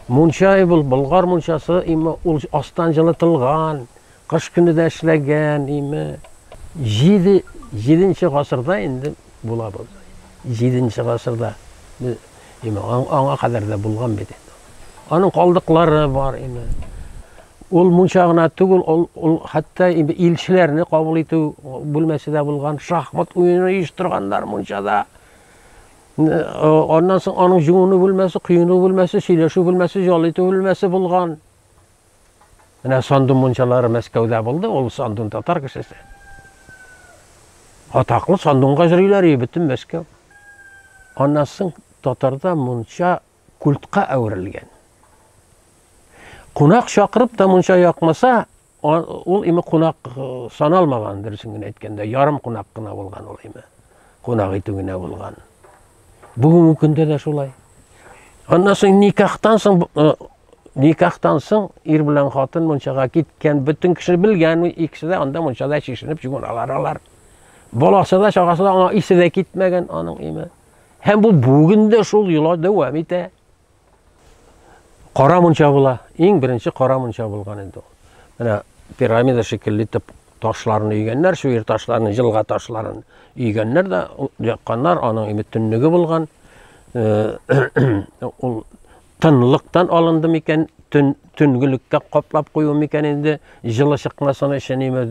Мунча ул Болгар мунчасы, име ул астан җылытылган, кыш көне дә эшләгән, име 7 7нче гасырда инде була бу. 7нче гасырда име аңа кадәр дә булган бит инде. Аның калдыклары бар име. Ул мунча гына түгел, ул, ул хәтта инде илчеләрне кабул итү бүлмәсе дә булган, шахмат уены оештырганнар мунчада. Аннан соң аның җуыну бүлмәсе, коену бүлмәсе, сөйләшү бүлмәсе, ял итү бүлмәсе булган. Менә Сандун мунчалары Мәскәүдә булды, ул Сандун татар кешесе. Атаклы Сандунга йөриләр и бөтен Мәскәү. Аннан соң татарда мунча культка әверелгән. Кунак чакырып та мунча якмаса, Ул име кунак саналмаган, дөресен генә әйткәндә, ярым кунак кына булган ул име. Кунак итү генә булган. Бүгенге көндә дә шулай. Аннан соң никахтан соң никахтан соң ир белән хатын мунчага киткән, бөтен кеше белгән, икесе дә анда мунчада чишенеп җугыналар алар. Баласы да, чагасы да аңа исе дә китмәгән аның име. Һәм бу бүген дә шул йола дәвам итә. Кара мунча була. Иң беренче кара мунча булган инде ул. Менә пирамида шикелле итеп ташларын өйгәннәр, шуер ташларын, җылга ташларын өйгәннәр дә якканнар, аның бөтенлеге булган. Э, ул тынлыктан алынды микән, төн төнгелеккә каплап кую микән инде, җылы чыкмасын өчен име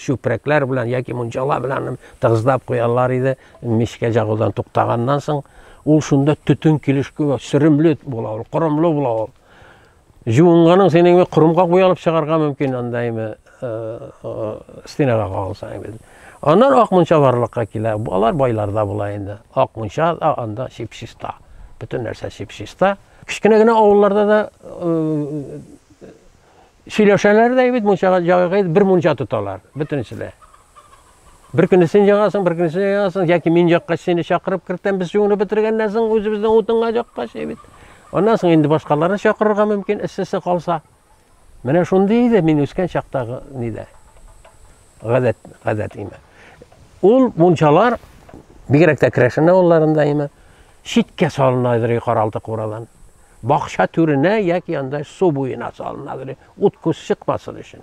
чүпрәкләр белән яки мунчала белән тыгызлап куялар иде. Мичкә җагудан туктаганнан соң, ул шунда төтен килеш куя, сөремле була ул, корымлы була ул. Җуынганың син инде корымга куя алып чыгарга мөмкин анда инде э, э, стенага кагылса инде. Аннан ак мунча барлыкка килә. Алар байларда була инде. Ак мунча да анда чипчиста. Бөтен нәрсә чипчиста. Кечкенә генә авылларда да э, Сөйләшәләр дә бит, мунчага җагыга бер мунча тоталар, бөтенесе дә. Бер көне син җагасың, бер көне син җагасың, яки мин җакка сине чакырып кертәм, без юынып бетергәннән соң үзебезнең утынга җакка чәй бит. Аннан соң инде башкаларны чакырырга мөмкин, эссесе калса. Менә шундый иде мин үскән чактагы нидә. Гадәт, гадәт име. Ул мунчалар бигрәк тә Крәшен авылларында име, читкә салына идер каралты курадан. Бакча түренә яки андай су буена салына, ут-күз чыкмасын өчен.